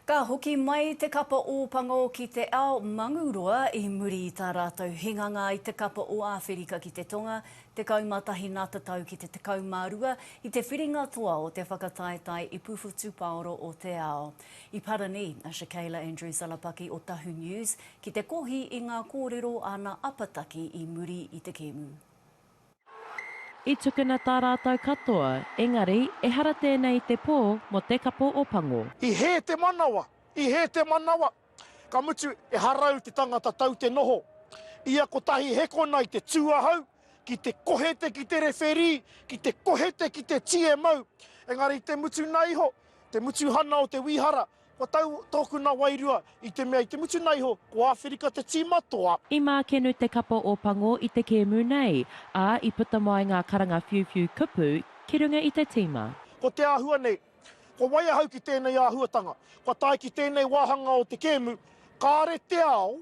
Ka hoki mai te kapa ō Pango ki te ao Manguroa i muri i tā rātou hinganga i te kapa ō Āwherika ki te Tonga, 11 nā te tau ki te 12, i te whiringa toa o te whakataetae ipu whutupaoro o te ao. I parani a Shakayla Andrews-Alapaki o Tahu News ki te kohi i ngā kōrero āna apataki i muri i te kēmu. I tukuna tā rātou katoa, engari, ehara tēnei i te pō mō te kapo o Pango. I hē te manawa, i hē te manawa, ka mutu e harau te tangata tau te noho. Ia kotahi he kona i te tū ahau, ki te kohe te ki te rewherī, ki te kohe te ki te TMO, engari i te mutu naiho, te mutuhana o te wīhara, Kua tau tōku na wairua i te mea i te mutunga iho ko Āwherika te tīma toa. I mākenu te kapa o Pango i te kēmu nei, ā, i puta mai ngā karanga whiuwhiu kupu ki runga i te tīma. Ko te āhua nei. Kua wai ahau ki tēnei āhuatanga? Kua tae ki tēnei wāhanga o te kēmu, kāre te ao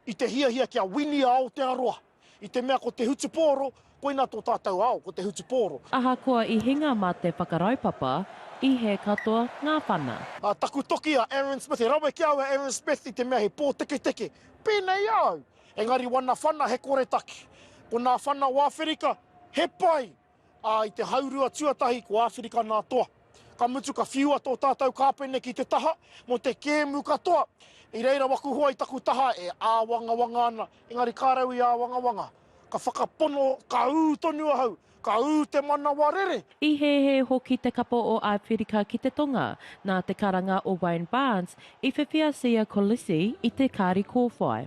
I te hiahia kia wini a Aotearoa, i te mea ko te hutupōro, koina tō tātou ao, ko te hutupōro. Ahakoa i hinga mā te whakaraupapa, i hē katoa ngā whana. A taku toki a Aaron Smith, he rawe ki a au a Aaron Smith i te mea he pōteketeke, pēnei au, engari wana whana he koretake. Ko nā whana o Awherika, he pai, ā, i te haurua tuatahi ko Āwherika nā toa. Ka mutu ka whiua tō tātou kāpene ki te taha mō te kēmu katoa. I reira wakuhua i taku taha e āwangawanga ana, engari ka rau i āwangawanga. Ka whakapono, ka ū tonu ahau, ka ū te manawa rere. I hēhē hoki te kapa o Āwherika ki te tonga. Nā te karanga o Wayne Barnes, i whiwhia Siya Kolisi i te kāri kōwhai.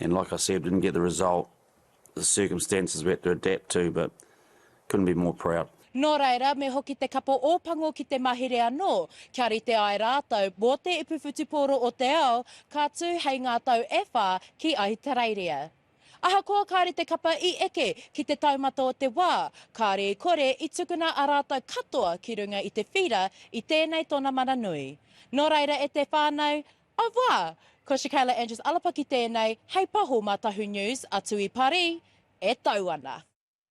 and like I said didn't get the result the circumstances we had to adapt to but couldn't be more proud. Nō reira, me hoki te kapo Ōpango ki te mahere anō, kia rite ai rātou mō te ipu whutupōro o te ao, ka tū hei ngā tau e whā ki Ahitereiria. Ahakoa kāre te kapa i eke ki te taumata o te wā, kāre i kore i tukuna a rātou katoa ki runga i te whīra i tēnei tona mana nui. Nō reira e te whānau, A wa! Ko Shakayla Andrews Alapaki tēnei hei paho mā Tahu News, a Tui Parī e tau ana.